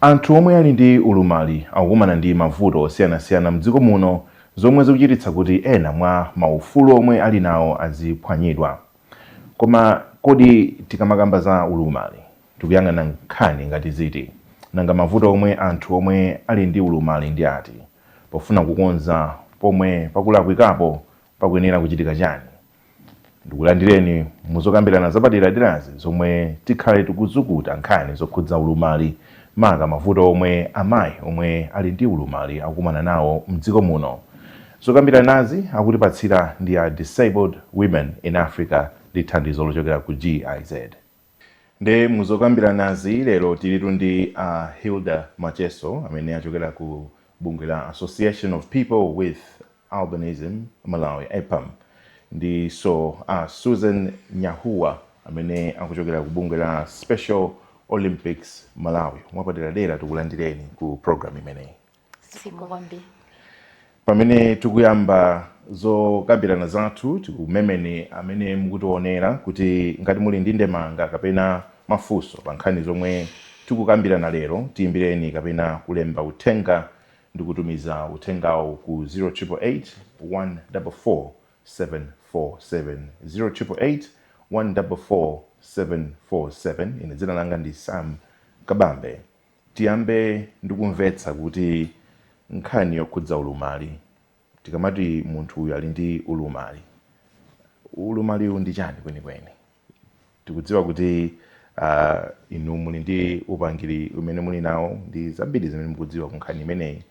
Anthu omwe ali ndi ulumali akukumana ndi mavuto osiyanasiyana mdziko muno zomwe zikuchititsa kuti ena mwa maufulu omwe ali nawo aziphwanyidwa. Koma kodi tikamakamba za ulumali tikuyang'ana nkhani ngati ziti? Nanga mavuto omwe anthu omwe ali ndi ulumali ndi ati? Pofuna kukonza pomwe pakulakwikapo pakuyenera kuchitika chani? Ndikulandireni mu zokambirana zapaderaderazi zomwe tikhale tikuzukuta nkhani zokhudza ulumali maka mavuto omwe amayi omwe ali ndi ulumali akukumana nawo mdziko muno. Zokambiranazi akutipatsira ndi a Disabled Women in Africa ndi thandizo lochokera ku GIZ. Nde muzokambiranazi lero tilitu ndi a Hilda Macheso amene achokera ku bungwe la Association of People with Albinism Malawi, APAM, ndiso a Susan Nyahuwa amene akuchokera ku bungwe la Special Olympics Malawi. Mwapaderadera tikulandireni ku program imeneyi. zikomo kwambiri pamene tikuyamba zokambirana zathu tikumemeni amene mukutionera kuti ngati muli ndi ndemanga kapena mafunso pa nkhani zomwe tikukambirana lero tiyimbireni kapena kulemba uthenga ndi kutumiza uthengawo ku 0888 144 747 0888 144 747 ine dzina langa ndi sam kabambe Tiyambe ndi kumvetsa kuti nkhani yokhudza ulumali, tikamati munthu uyu ali ndi ulumali, ulumaliwu ndi chani kwenikweni? Tikudziwa kuti inu muli ndi upangiri umene muli nawo ndi zambiri zimene mukudziwa ku nkhani imeneyi.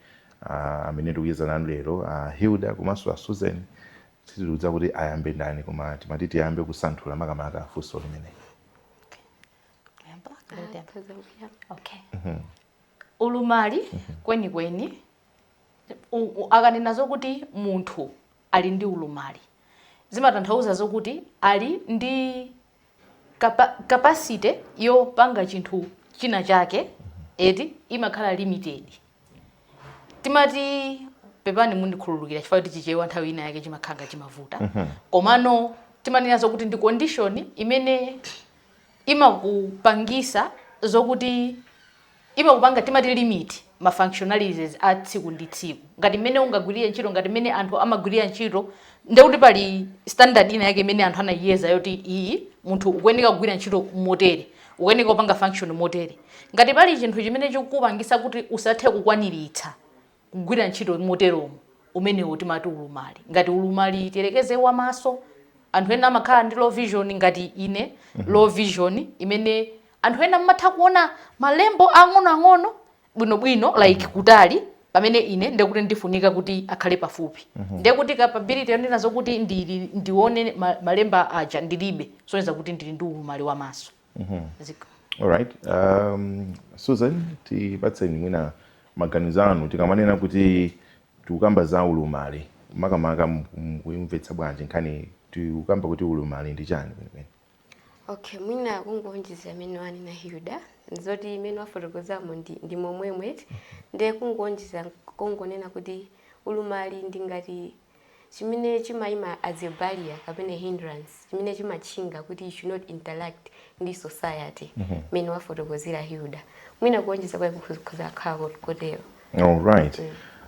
Amene ndikucheza nanu lero a Hilda komanso a Susan, sitikudziwa kuti ayambe ndani koma timati tiyambe kusanthula makamaka funso limeneli. okay mhm. ulumali mhm. kwenikweni akanena zokuti munthu ali ndi ulumali zimatanthauza zokuti ali ndi capacity yopanga chinthu china chake mhm. eti imakhala limited timati pepani mundikhululukira chifukwa kuti chichewa nthawi ina yake chimakhala ngati chimavuta komano timanena zokuti ndi condition imene imakupangisa zokuti imakupanga timati limit ma functionalities a tsiku ndi tsiku ngati mmene ungagwirire ntchito ngati mmene anthu amagwirira ntchito ndekuti pali standard ina yake imene anthu anayiyeza yoti iyi munthu ukuyeneka kugwira ntchito motere ukuyeneka kupanga function motere ngati pali chinthu chimene chikupangisa kuti usathe kukwaniritsa kugwira ntchito moteromo, umenewo timati ulumali. Ngati ulumali tiyerekeze wa maso, anthu ena amakhala ndi low vision ngati ine, low vision imene anthu ena mumatha kuona malembo ang'onoang'ono bwinobwino like kutali pamene ine ndiye kuti ndifunika kuti akhale pafupi. Ndiye kuti capability yonena zokuti ndione malemba aja ndilibe kusonyeza kuti ndili ndi ulumali wa maso. Mhm. Alright. Um, Susan, tipatseni mwina maganizo anu tikamanena kuti tikukamba za ulumali makamaka mu- mukuyimvetsa bwanji nkhani tikukamba kuti ulumali ndi chani kwenikweni okay mwina kungonjeza imene wanena hilda ndi zoti imene wafotokozamo ndi, ndi momwemwe ndiye kungonjeza kungonena kuti ulumali ndi ngati chimene chimaima as a barrier kapena hindrance chimene chimatchinga kuti you should not interact ndi society mhm. mmene mm -hmm. wafotokozera hilda mwina kuonjeza kwake kukhoza kukhala kotero all right mm.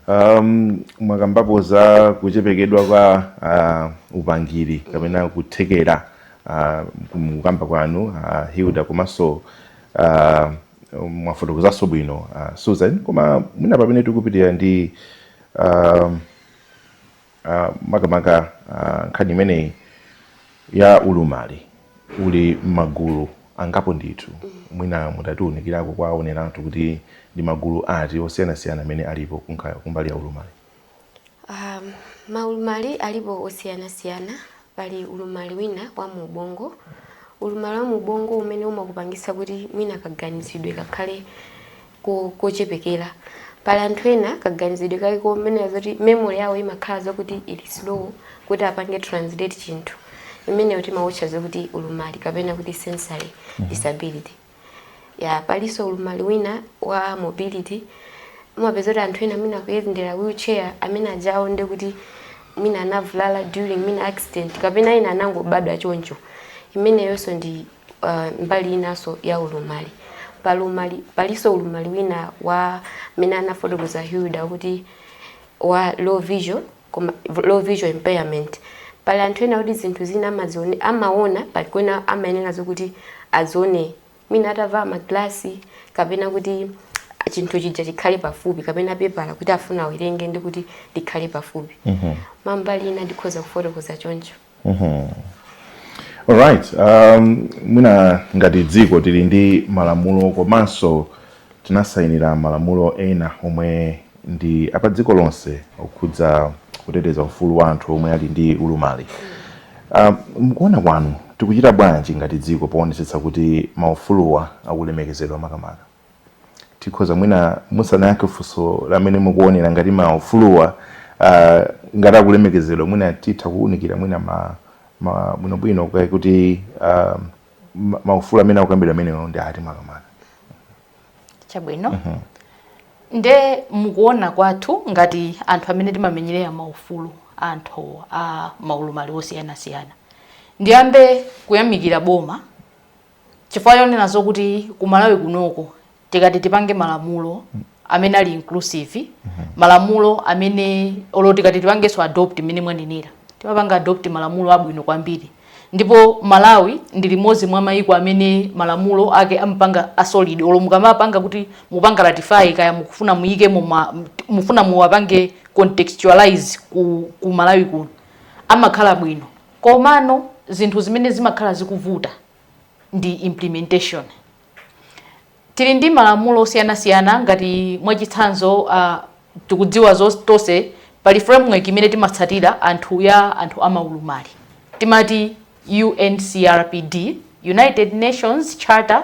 Um, mwakambapo za kuchepekedwa kwa uh, upangiri kapena kuthekera uh, mukukamba kwanu uh, hilda komanso uh, mwafotokozanso bwino uh, susan koma mwina pamene tikupitira ndi uh, uh, makamaka uh, nkhani imeneyi ya ulumali uli m'magulu angapo ndithu mwina mutatiunikirako kwa aoneri athu kuti ndi magulu ati osiyanasiyana amene alipo kunkha- kumbali ya ulumali Um, maulumali alipo osiyanasiyana pali ulumali wina wa mu ubongo ulumali wa mu ubongo umene umakupangitsa kuti mwina kaganizidwe kakhale ko, kochepekera. Pali anthu ena kaganizidwe kake komwe ndi zoti memory yawo imakhala zokuti ili slow kuti apange translate chinthu. Imeneyo timautcha zokuti ulumali kapena kuti sensory mhm. disability. Ya palinso ulumali wina wa mobility umapeza kuti anthu ena mwina kuyendera wheelchair amene ajawo ndi kuti mwina anavulala during mwina accident kapena ena anangobadwa choncho imeneyonso ndi uh, mbali inanso ya ulumali palumali palinso ulumali wina wa mmene anafotokoza Hilda kuti wa low vision kapena low vision impairment pali anthu ena kuti zinthu zina amaziona amaona pali kwena amayenera zokuti azione mwina atavala maglasi kapena kuti chinthu chija chikhale pafupi kapena pepala kuti afuna awerenge ndi kuti likhale pafupi mm -hmm. mambali ina ndikhoza kufotokoza choncho Mhm. Alright, um, mwina ngati dziko tili ndi malamulo komanso tinasayinira malamulo ena omwe ndi apa dziko lonse okhudza kuteteza ufulu wa anthu omwe ali ndi ulumali. Um, mukuona kwanu tikuchita bwanji ngati dziko poonetsetsa kuti maufuluwa akulemekezedwa makamaka? tikhoza mwina musanayankhe funso lamene mukuonera ngati maufuluwa uh, ngati akulemekezedwa mwina titha kuwunikira mwina ma, ma bwinobwino kaye kuti uh, maufulu amene akukambidwa amenewo ndi ati makamaka chabwino mm -hmm. nde mukuona kwathu ngati anthu amene timamenyerera maufulu a anthu a maulumali osiyanasiyana ndiyambe kuyamikira boma chifukwa chonena zokuti ku Malawi kunoko tikati tipange malamulo amene ali inclusive malamulo amene olo tikati tipangenso adopt mmene mwanenera timapanga adopt malamulo abwino kwambiri ndipo Malawi ndi limodzi mwa mayiko amene malamulo ake amapanga asolid olo mukamapanga kuti mupanga ratify kaya mukufuna muyikemo ma- mufuna muwapange contextualize ku, ku Malawi kuno amakhala bwino Komano zinthu zimene zimakhala zikuvuta ndi implementation. Tili ndi malamulo osiyanasiyana ngati mwachitsanzo a tikudziwa tonse pali framework imene timatsatira anthu ya anthu amaulumali timati UNCRPD, United Nations Charter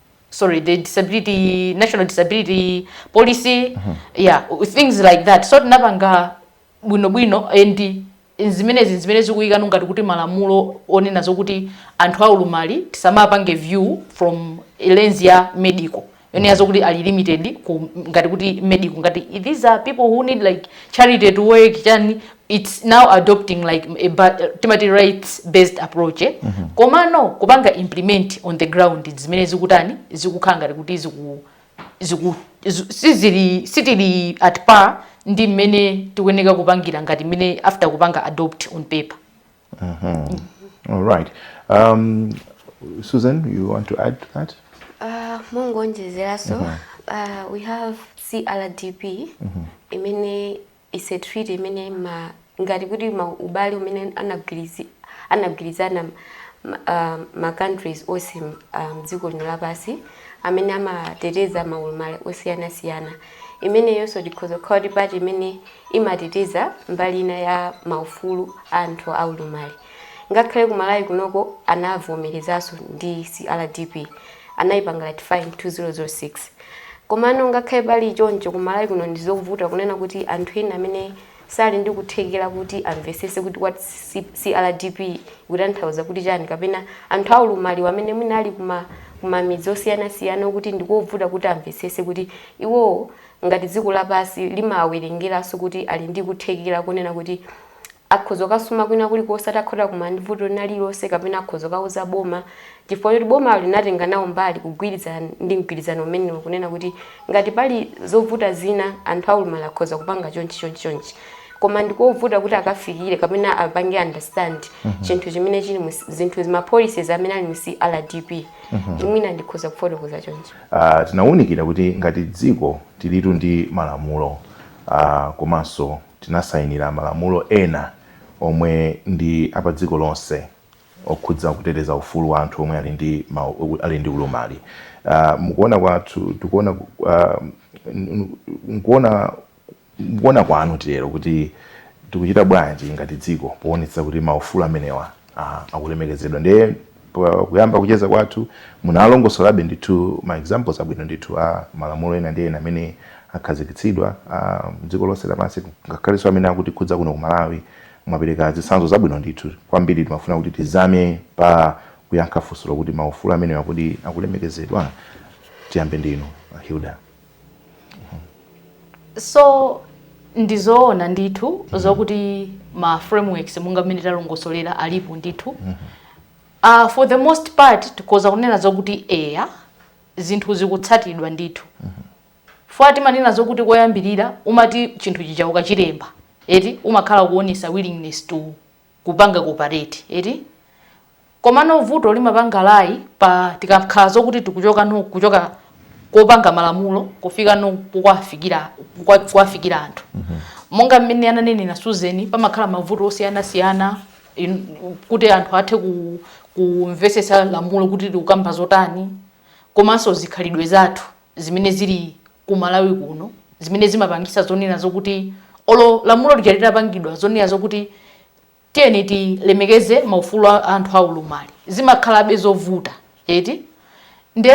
sorry the disability national disability policy mm -hmm. yeah things like that so tinapanga bwino bwino and zimenezi zimene zikuyikano ngati kuti malamulo onena zokuti anthu aulumali tisamawapange view from lens ya medical yonena zokuti ali limited ku, ngati kuti medical ngati these are people who need like charity to work chani its now adopting like timati rights based approach eh? mm -hmm. komano kupanga implement on the ground zimene zikutani zikukhala ngati kuti ziku, ziku, ziku, sizili sitili at par ndi mmene tikuyeneka kupangira ngati mmene after kupanga adopt on paper mm -hmm. mm. all right um, susan you want to add to that uh, mongonjezeranso mm -hmm. uh, we have crdp mm -hmm. imene It's a treaty imene ma, ngati kuti ma ubale umene anagwirizi, anagwirizana ma, um, ma countries onse um, dziko lino lapansi amene amateteza maulumali osiyanasiyana imeneyonso ikhoza kukhala kuti part imene imateteza mbali ina ya maufulu a anthu aulumali ngakhale ku malawi kunoko anavomerezanso ndi crdp anayipanga ratify in 2006 Komano ngakhale pali choncho ku Malawi kuno ndizovuta kunena kuti anthu ena amene sali ndi kuthekera kuti amvesese kuti what CRDP ikutanthauza kuti chani kapena anthu aulumaliwa amene mwina ali kuma kumamidzi osiyanasiyana kuti ndikovuta kuti amvesese kuti iwowo ngati dziko lapasi limawerengeranso kuti ali ndi kuthekera konena kuti akhoza kukasuma kwina kulikonse atakhoza kukumana ndi vuto lina lililonse kapena akhoza kukauza boma chifukwa choti bomalo linatenga nawo mbali kugwirizana ndi mgwirizano umenewo kunena kuti ngati pali zovuta zina anthu aulumali akhoza kupanga chonchi chonchi chonchi koma ndikovuta kuti akafikire kapena apange understand mhm. chinthu chimene chili zinthu mapolicies amene ali mu CRPD mhm. mwina ndikhoza kufotokoza chonchi ah, tinawunikira kuti ngati dziko tilitu ndi malamulo ah, komanso Tinasainira malamulo ena omwe ndi apadziko lonse okhudza kuteteza ufulu wa anthu omwe ali ndi ali ndi ulumali. Mukuona kwathu tikuona mukuona mukuona kwanu titero kuti tikuchita bwanji ngati dziko poonetsetsa kuti maufulu amenewa ah, akulemekezedwa ndiye pakuyamba kucheza kwathu munalongosolabe ndithu ma examples abwino ndithu a malamulo ena ndi ena amene akhazikitsidwa mdziko lonse lapansi ngakhalenso amene akutikhudza kuno ku Malawi mwapereka zitsanzo zabwino ndithu kwambiri timafuna kuti tizame pa kuyankha funso lokuti maufulu amenewa kodi akulemekezedwa tiyambe ndinu Hilda so ndizoona ndithu mm -hmm. zokuti ma frameworks monga mmene talongosolera alipo ndithu mm -hmm. uh, for the most part tikoza kunena zokuti eya zinthu zikutsatidwa ndithu mm -hmm. fukwa timanena zokuti koyambirira umati chinthu chija ukachilemba eti umakhala kuonesa willingness to kupanga cooperate eti komano vuto limapanga lie pa tikakhala zokuti tikuchoka no kuchoka kopanga malamulo kufika no kuwafikira kuwafikira anthu mm -hmm. monga mmene ananena Susan pamakhala mavuto osiyanasiyana kuti anthu athe ku kumvesesa lamulo kuti likukamba zotani komanso zikhalidwe zathu zimene zili ku Malawi kuno zimene zimapangisa zonena zokuti olo lamulo lija litapangidwa zonena zokuti tiyeni tilemekeze maufulu a anthu aulumali zimakhalabe zovuta eti nde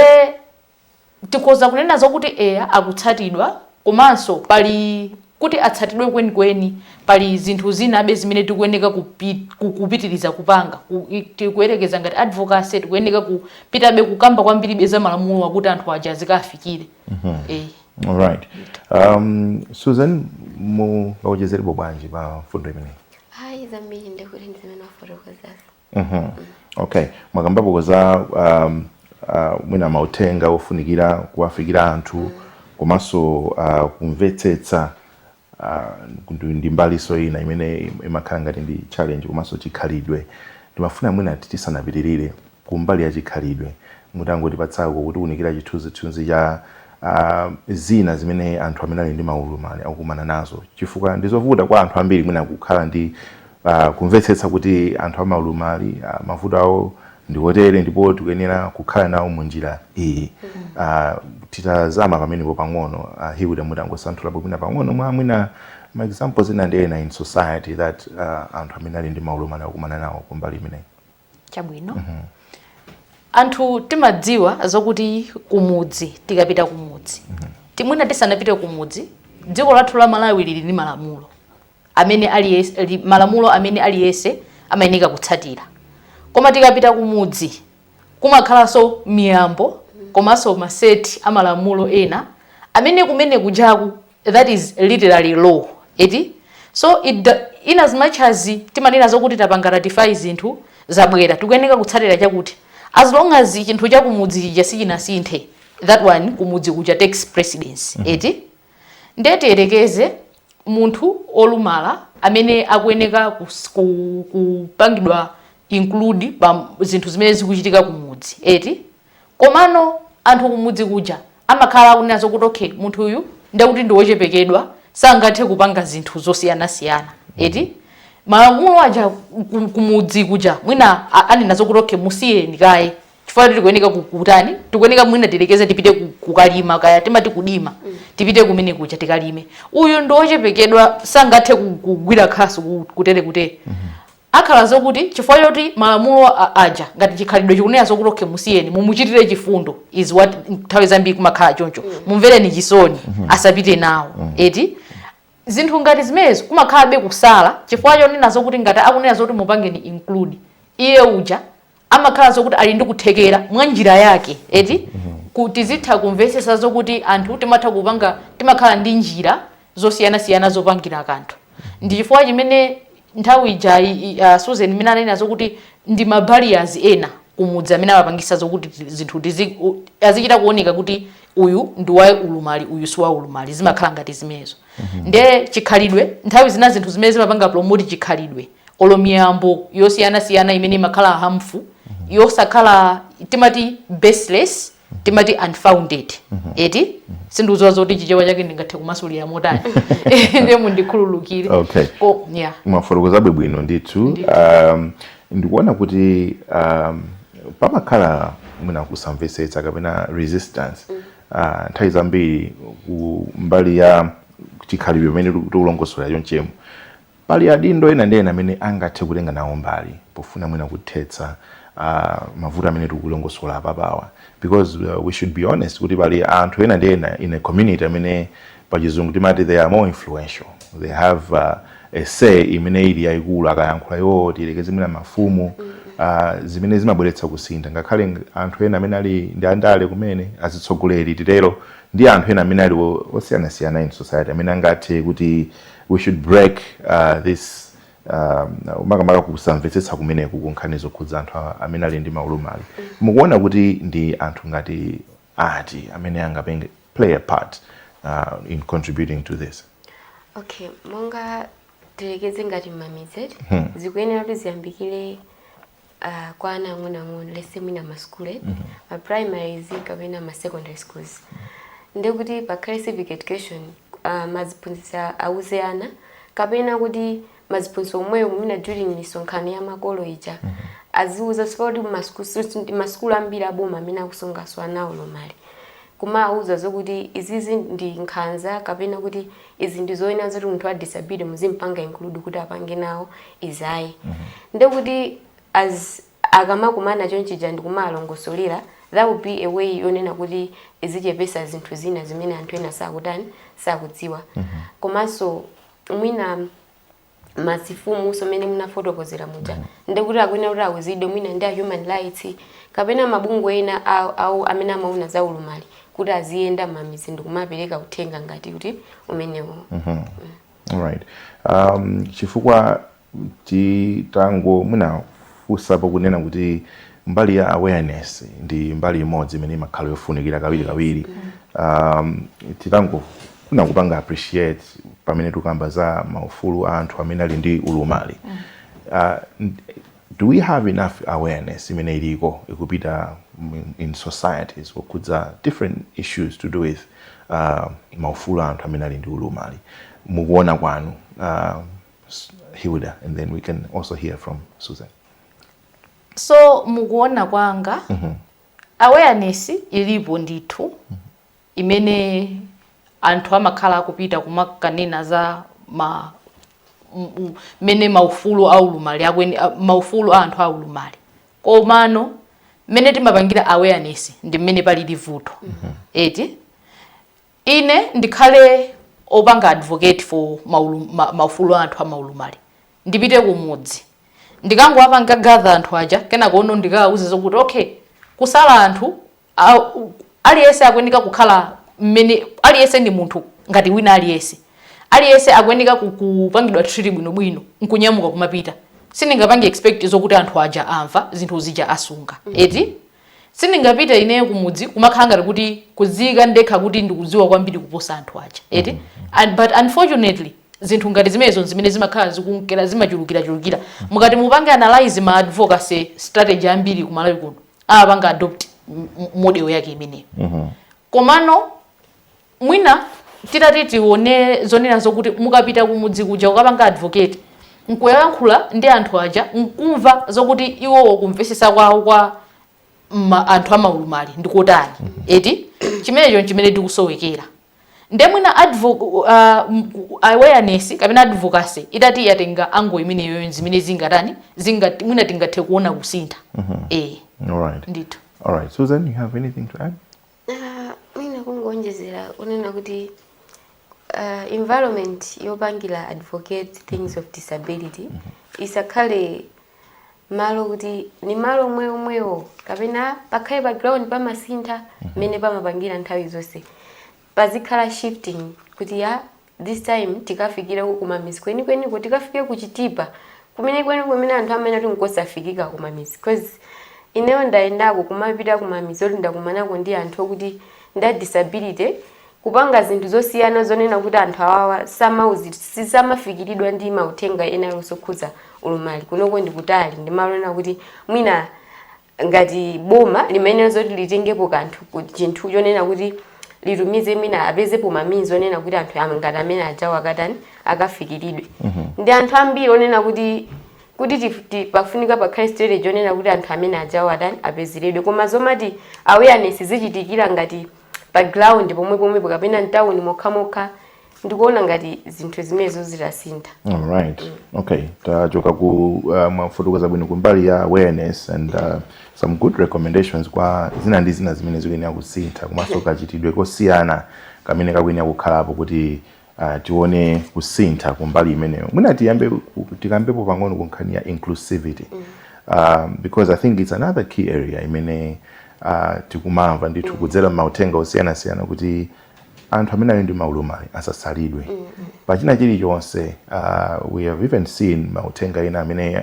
tikhoza kunena zokuti eya akutsatidwa komanso pali Kuti atsatidwe kwenikweni pali zinthu zinabe zimene tikuyeneka kupit, ku, kupitiriza kupanga, ku, it, tikuyerekeza ngati advocacy tikuyeneka ku pitabe kukamba kwambiribe za malamulowa kuti anthu aja azikawafikira. Mm -hmm. E. Eh. All right. Um, Susan, mu, mungawonjezerepo bwanji pa mfundo imeneyi? Hai, zambiri ndikuti ndizimene wafotokozazi. Mhm. okay mwakambapo za um, uh, mwina mauthenga ofunikira kuwafikira anthu komanso uh, kumvetsetsa uh, ndi- ndi mbaliso ina imene imakhala ngati ndi challenge komanso chikhalidwe ndimafuna mwina ati tisanapitirire kumbali ya chikhalidwe mutangotipatsako kutiunikira chithunzithunzi cha uh, zina zimene anthu amene ali ndi maulumali akukumana nazo chifukwa ndizovuta kwa anthu ambiri mwina kukhala ndi pa kumvetsetsa kuti anthu amaulumali ah, mavuto awo ndi otere ndipo tikuyenera kukhala nawo mu njira iyi Ah, titazama pamenepo pang'ono ah, Hilda mutangosanthulapo mwina pang'ono mwa mwina ma examples ena ndi ena in society that ah, anthu amene ali ndi maulumali akumana nawo kumbali imeneyi chabwino anthu timadziwa zokuti kumudzi tikapita kumudzi timwina tisanapite kumudzi dziko lathu la malawi lili ndi malamulo amene aliyese li- malamulo amene aliyese amayeneka kutsatira koma tikapita kumudzi kumakhalanso miyambo komanso maseti a malamulo ena amene kumene kujaku that is literally law eti so it do, in as much as timanena zokuti tapanga ratify zinthu zabwera tikuyeneka kutsatira chakuti as long as chinthu chakumudzi chija sichinasinthe that one kumudzi kuja takes precedence mm -hmm. eti ndiye tiyerekeze munthu olumala amene akuyeneka kupangidwa include pa zinthu zimene zikuchitika kumudzi eti Komano anthu kumudzi kuja amakhala akunena zokuti okay munthu uyu ndiye kuti ndi wochepekedwa sangathe kupanga zinthu zosiyanasiyana eti malamulo aja ku- kumudzi kuja mwina a- anena zokuti okay musiyeni kaye chifukwa kuti tikuyeneka ku- kutani tikuyeneka mwina tiyerekeze tipite ku- kukalima kaya timati kudima tipite kumene kuja tikalime uyu ndi wochepekedwa sangathe ku- kugwira khasu ku- kutere kutere Akhala zokuti chifukwa choti malamulo a aja ngati chikhalidwe chikunena zokuti okay musiyeni mumuchitire chifundo is what nthawi zambiri kumakhala choncho mumvereni chisoni asapite nawo eti zinthu ngati zimenezi kumakhalabe kusala chifukwa chonena zokuti ngati akunena zoti mupangeni include iye uja amakhala zokuti ali ndi kuthekera mwa njira yake eti mm -hmm. kuti tizitha kumvetsetsa zokuti anthu timatha kupanga timakhala ndi njira zosiyanasiyana zopangira kanthu ndi chifukwa chimene nthawi ija uh, susan imene ananena zokuti ndi mabarriers ena kumudzi amene amapangisa zokuti zinthu azichita kuoneka kuti uyu ndi wa ulumali uyu si wa ulumali zimakhala ngati zimenezo Mhm. nde chikhalidwe nthawi zina zinthu zimene zimapanga promote chikhalidwe olo miyambo yosiyanasiyana imene imakhala harmful mhm. yosakhala timati baseless mhm. timati unfounded eti sindikudziwa zoti chichewa chake ndingathe kumasulira motani ndiye mundikhululukire okay. oh, yeah. mwafotokozabe bwino ndithu um, ndikuona kuti um, pamakhala mwina kusamvetsetsa kapena resistance mm. Ah, nthawi zambiri ku mbali ya chikhalidwe pamene tikulongosola chonchemu pali adindo ena ndi ena amene angathe kutenga nawo mbali pofuna mwina kuthetsa ah, mavuto amene tikulongosola apapawa because uh, we should be honest kuti pali anthu ena ndi ena in a community amene pa chizungu timati they are more influential they have uh, a say imene ili yayikulu akayankhula iwowo tiyerekeze mwina mafumu uh, zimene zimabweretsa kusintha ngakhale ng- anthu ena amene ali ndi andale kumene azitsogoleri titero ndi anthu ena amene ali o- osiyanasiyana in society amene angathe kuti we should break uh, this um, makamaka kusamvetsetsa kumeneku kunkhani zokhudza anthu a- amene ali ndi maulumali mukuona kuti ndi anthu ngati ati amene angapange play a part uh, in contributing to this okay monga tilekeze ngati mmamidzi eti hmm. zikuyenera kuti ziyambikire uh, kwa ana ang'onoang'ono let's say mwina masukulu eti mm -hmm. maprimaries kapena masecondary schools ndekuti pakhale civic education uh, maziphunzitsi auze ana kapena kuti maziphunzitsi omwewo mwina during misonkhano ya makolo ija aziuza si poti masukulu ambiri aboma amene akusungaso ana olumala kumawauza zokuti izizi ndi nkhanza kapena kuti izi ndi zoyenera zoti munthu wa disability muzimpanga include kuti apange nawo izayi ndekuti as akamakumana chonchija ndi kumalongosolera that would be a way yonena kuti zichepetsa zinthu zina zimene anthu ena sakutani sakudziwa komanso mwina mazimfumunso mmene munafotokozera muja ndikuti akuyenera kuti awuzidwe mwina ndi a human rights kapena mabungwe ena ake amene amaona za ulumali kuti aziyenda mmamidzi ndikumapereka uthenga ngati kuti umenewo mm -hmm. right um, chifukwa titango mwina funsapo kunena kuti mbali ya awareness ndi mbali imodzi imene imakhala yofunikira kawirikawiri um, titangofuna kupanga appreciate pamene tukamba za maufulu a anthu amene ali ndi ulumali uh, do we have enough awareness imene iliko ikupita in- in societies kukhudza different issues to do with uh, maufulu a anthu amene ali ndi ulumali mkuona kwanu uh, Hilda, and then we can also hear from Susan. So mukuona kwanga mm -hmm. awareness ilipo ndithu mm -hmm. imene anthu amakhala akupita kumakanena za ma mmene maufulu aulumali akweni maufulu a anthu aulumali komano mmene timapangira awareness ndi mmene palili vuto mm -hmm. eti Ine ndikhale opanga advocate for maulum, ma, maufulu a anthu amaulumali ndipite kumudzi ndikangowapanga gather anthu aja kenakono ndikawauze zokuti okay kusala anthu aliyense akuyeneka kukhala mmene aliyense ndi munthu ngati wina aliyense aliyense akuyeneka kupangidwa treat bwino bwino nkunyamuka kumapita sindingapange expect zokuti anthu aja amva zinthu zija asunga eti Sindingapite ineyo kumudzi kumakhala ngati kuti kudziika ndekha kuti ndikudziwa kwambiri kuposa anthu aja. Eti? Mm -hmm. And, but unfortunately zinthu ngati zimenezo zimene zimakhala zikunkera zimachulukira chulukira. Mm. Mukati mupange analyze ma advocacy strategy ambiri ku Malawi kuno. Anapanga adopt model yake imeneyo. Mm -hmm. Komano Mwina titati tione zonena zokuti mukapita kumudzi kuja kukapanga advocate nkuyankhula ndi anthu aja nkumva zokuti iwowo kumvesesa kwawo kwa ma, anthu amaulumali ndikotani mm -hmm. eti chimenecho nchimene tikusowekera nde mwina uh, awareness kapena advocacy itati yatenga angle imeneyoyo zimene zingatani zinga, mwina tingathe kuona kusintha mm -hmm. e. All right. ndithu All right, Susan, you have anything to add? Uh, mwina kungoonjezera kunena kuti uh, environment yopangira advocate things of disability mm -hmm. isakhale malo kuti ni malo omwewo omwewo kapena pakhale pa ground pamasintha mmene mhm. pamapangira nthawi zonse pazikhala shifting kuti ya this time tikafikireko kumamizi kwenikweniko tikafike ku chitipa kumene kwene kumene anthu amene ati nkosafikika kumamizi cause ineyo ndayendako kumapita kumamizi oti ndakumanako ndi anthu okuti ndi adisability kupanga zinthu zosiyana zonena kuti anthu awawa samauzi sisamafikiridwa ndi mauthenga ena aliwonse okhuza ulumali kunoko ndikutali ndi malo ena kuti mwina ngati boma limayenera zoti litengepo kanthu ku chinthu chonena kuti litumize mwina apezepo ma means onena kuti anthu am- ngati amene ajawo akatani akafikiridwe ndi anthu ambiri onena kuti kuti tif- ti- pafunika pakhale strategy onena kuti anthu amene ajawo atani apezeredwe koma zomati awareness zichitikira ngati pa ground pomwe pomwepo kapena mtawuni mokhamokha ndikuona ngati zinthu zimenezo zitasintha alright okay tachoka ku uh, mwafotokoza bwino kumbali ya awareness and uh, some good recommendations kwa zina ndi zina zimene zikuyenera kusintha komanso kachitidwe kosiyana kamene kakuyenera kukhalapo kuti uh, tione kusintha kumbali imeneyo mwina tiyambe ku- tikambepo pang'ono ku nkhani ya inclusivity um, because i think it's another key area imene uh, tikumamva ndithu kudzera m'mauthenga osiyanasiyana kuti anthu amene ali ndi maulumali asasalidwe mm -hmm. pachina chilichonse uh, we have even seen mauthenga ena amene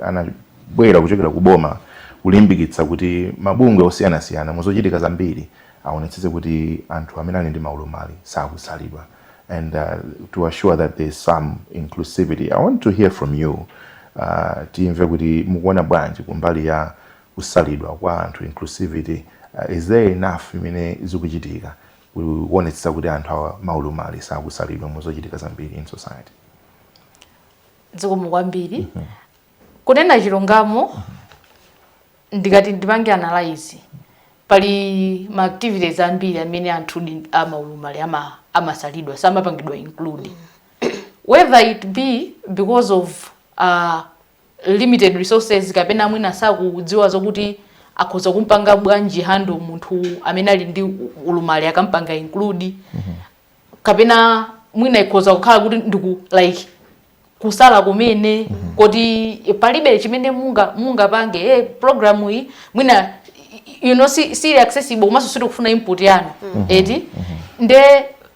anabwera kuchokera ku boma kulimbikitsa kuti mabungwe osiyanasiyana muzochitika zambiri aonetsetse kuti anthu amene ali ndi maulumali sakusalidwa and uh, to assure that there is some inclusivity i want to hear from you uh, timve kuti mukuona bwanji kumbali ya kusalidwa kwa anthu, inclusivity, is there enough imene zikuchitika kuonetsetsa kuti anthu awa maulumali sakusalidwa mu zochitika zambiri in society? Zikomo kwambiri. Mm -hmm. Kunena chilungamo mm -hmm. ndikati ndipange analyze pali ma activities ambiri amene anthu amaulumali ama amasalidwa samapangidwa include whether it be because of uh, limited resources kapena mwina sakudziwa zokuti akhoza kumpanga bwanji handle munthu amene ali ndi ulumali akampanga include mm -hmm. kapena mwina ikhoza kukhala kuti ndiku like kusala kumene mm -hmm. koti palibe chimene munga munga pange e eh, program iyi mwina you know si si accessible komanso sitikufuna input yanu mm -hmm. eti mm -hmm. nde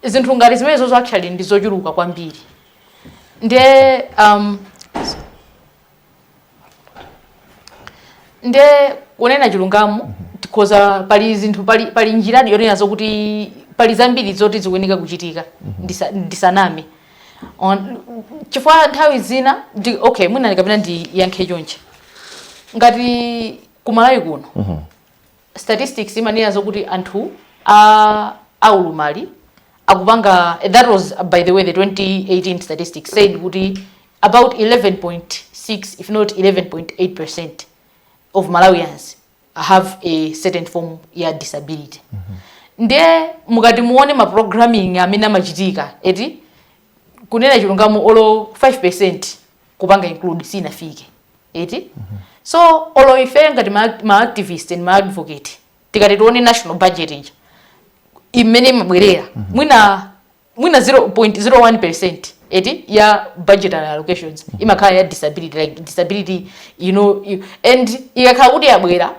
zinthu ngati zimenezo actually ndi zochuluka kwambiri nde um, nde kunena chilungamo tikhoza pali zinthu pali, pali njiradi yonena zokuti pali zambiri zoti zikuyeneka kuchitika ndisa, ndisaname On- chifukwa nthawi zina ndi, okay mwina ndikapena ndiyankhe chonchi ngati kumalawi kuno statistics imanena zokuti anthu a aulumali akupanga eh, that was uh, by the way the 2018 statistics said kuti about 11.6 if not 11.8 percent of malawians have a certain form ya disability mm -hmm. ndiye mukati muone ma programming amene amachitika eti kunena chilungamo olo 5 percent kupanga include sinafike eti mm -hmm. so olo ife ngati ma, ma activist and ma advocate tikati tione national budget ija imene imabwerera mm -hmm. mwina mwina 0.01% eti ya budgetary allocations mm -hmm. imakhala ya disability like disability you know you, and ikakhala kuti yabwera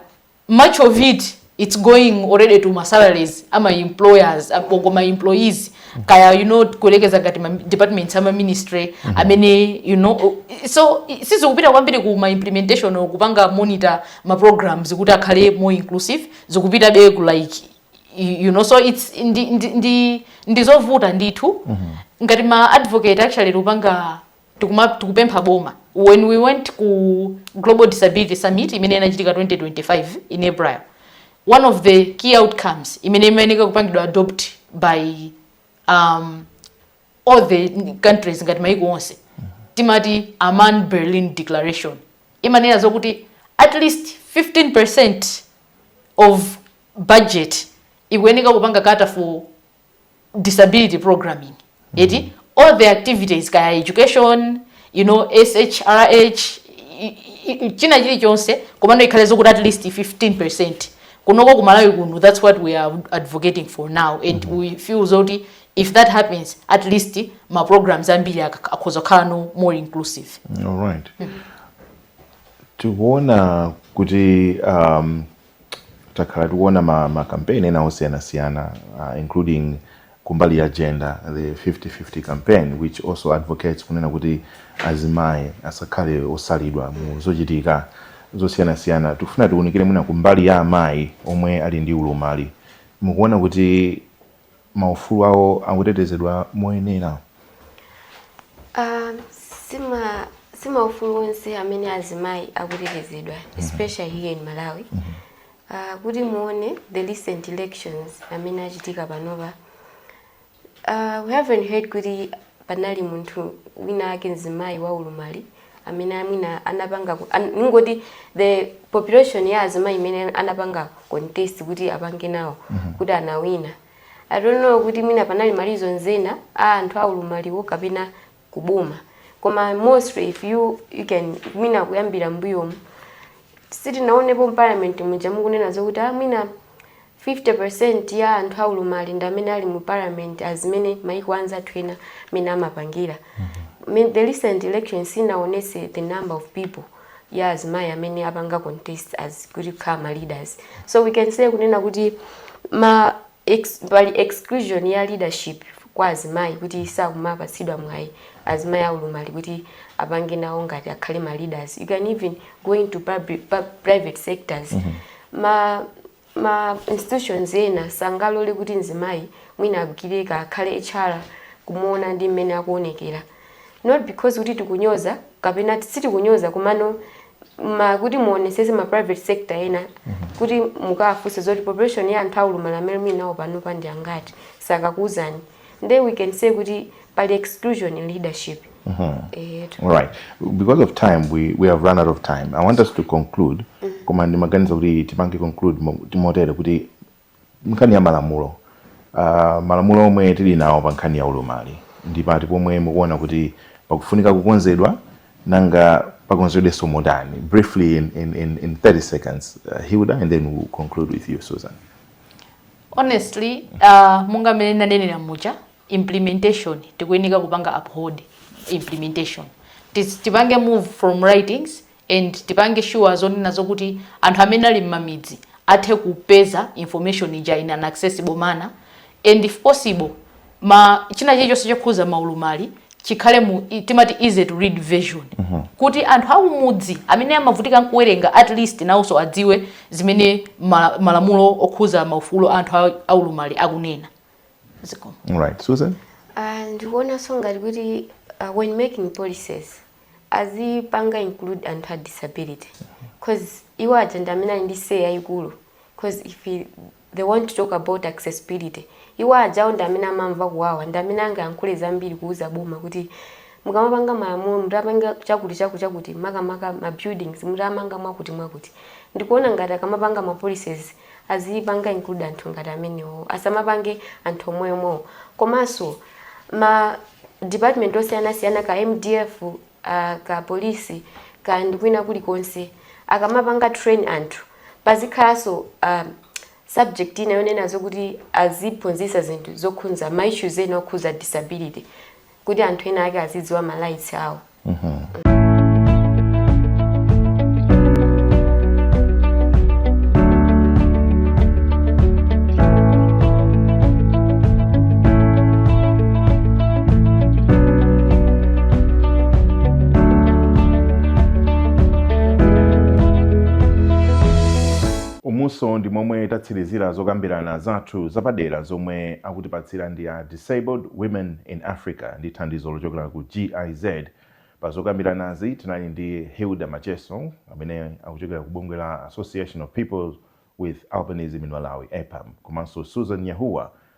much of it it's going already to ma salaries ama employers agogo ma employees kaya you know kuelekeza ngati ma departments ama ministry mm -hmm. amene you know so sizikupita kwambiri ku ma implementation or kupanga monitor ma programs kuti akhale more inclusive zikupita be ku like you know so it's ndi ndi ndi ndizovuta ndithu mm -hmm. ngati ma advocate actually kupanga tikuma tikupempha boma when we went ku global disability summit imene inachitika 2025 in april one of the key outcomes imene imayeneka kupangidwa adopt by um, all the countries ngati maiko onse timati amman berlin declaration imanena zokuti at least 15 percent of budget ikuyeneka kupanga cater for disability programming eti mm -hmm. all the activities kaya education you know shrh china chilichonse komano ikhale zokuti at least 15 kunoko kumalawi kuno that's what we are advocating for now and mm -hmm. we feel zoti if that happens at least ma programs ambiri akhoza kukhala no more inclusive all right mm -hmm. tikuona kuti um, takhala tikuona ma, ma campaign ena osiyanasiyana uh, including kumbali ya gender the 50-50 campaign which also advocates kunena kuti azimayi asakhale osalidwa mu zochitika zosiyanasiyana tikufuna tiunikire mwina kumbali ya amayi omwe ali ndi ulumali mukuona kuti maufulu awo akutetezedwa moyenera? Si maufulu onse amene azimayi akutetezedwa mhm. especially here in Malawi. Mhm. Ah, kuti muone the recent elections amene achitika panopa ah, we haven't heard kuti panali munthu wina ake mzimayi wa ulumali amene mwina anapanga ku- an- ningoti the population ya azimayi imene anapanga contest kuti apange nawo kuti anawina i don't know kuti mwina panali ma reasons ena a anthu aulumaliwo kapena kuboma koma mostly if you, you can mwina kuyambira mbuyomu sitinaonepo mparliament muja mukunena zokuti ah, mwina 50% ya anthu aulumali ndi amene ali mu parliament as mmene maiko anzathu ena mmene amapangira. I mean the recent elections inaonetsa the number of people ya azimayi amene apanga contest as kuti kukhala ma leaders. So we can say kunena kuti ma ex, pali exclusion ya leadership kwa azimayi kuti sakumapatsidwa mwayi azimayi aulumali kuti apange nawo ngati akhale ma leaders. You can even go into public, pub, private sectors. Ma Ma institutions ena sangalole kuti mzimayi mwina agwire ka akhale HR kumuona ndi mmene akuonekera. Not because kuti tikunyoza kapena ti- sitikunyoza komano ma kuti muonesese ma private sector ena kuti mukawafunse zoti population ya anthu aulumali amene muli nawo panopa ndi angati sakakuuzani. nde we can say kuti pali exclusion in leadership mm -hmm. eyetu all right because of time we, we have run out of time i want us to conclude mm -hmm. koma ndimaganiza kuti tipange conclude timotere kuti nkhani ya malamulo uh, malamulo omwe tili nawo pa nkhani ya ulumali ndi pati pomwe mukuona kuti pakufunika kukonzedwa nanga pakonzedwenso motani briefly in, in, in, in 30 seconds uh, hilda and then we'll conclude with you susan Honestly monga mmene ndanenera muja implementation tikuyenika kupanga uphold implementation tipange move from writings and tipange sure zonena zokuti anthu amene ali mmamidzi athe kupeza information ija in an accessible manner and if possible ma china chilichonse chokhuza maulumali chikhale mu i- timati easy to read version kuti anthu akumudzi amene amavutika nkuwerenga at least nawonso adziwe zimene ma- malamulo okhuza maufulu a anthu aulumali akunena zikomo right susan Ah, ndikuonanso ngati kuti uh, when making policies azipanga include anthu a disability cause iwo aja ndi amene ali ndi say yayikulu cause if i- they want to talk about accessibility iwo ajawo ndi amene amamva kuwawa ndi amene angayankhule zambiri kuuza boma kuti mukamapanga malamulo mutapanga chakuti chakuti chakuti makamaka ma buildings mutamanga mwakuti mwakuti ndikuona ngati akamapanga ma policies azipanga include anthu ngati amenewo asamapange anthu omweomwewo komanso ma department osiyanasiyana ka mdf ka police kaya ndi kwina kulikonse akamapanga train anthu pazikhalanso subject ina yonena zokuti aziphunzitsa zinthu zokhunza ma issues ena okhuza disability kuti anthu ena ake azidziwa ma rights awo umutu ndi momwe tatsirizira zokambirana zathu zapadera zomwe akutipatsira ndi a disabled women in africa ndi thandizo lochokera ku giz pa zokambiranazi tinali ndi hilda macheso amene akuchokera ku bungwe la association of people with albinism in malawi apam komanso susan nyahuwa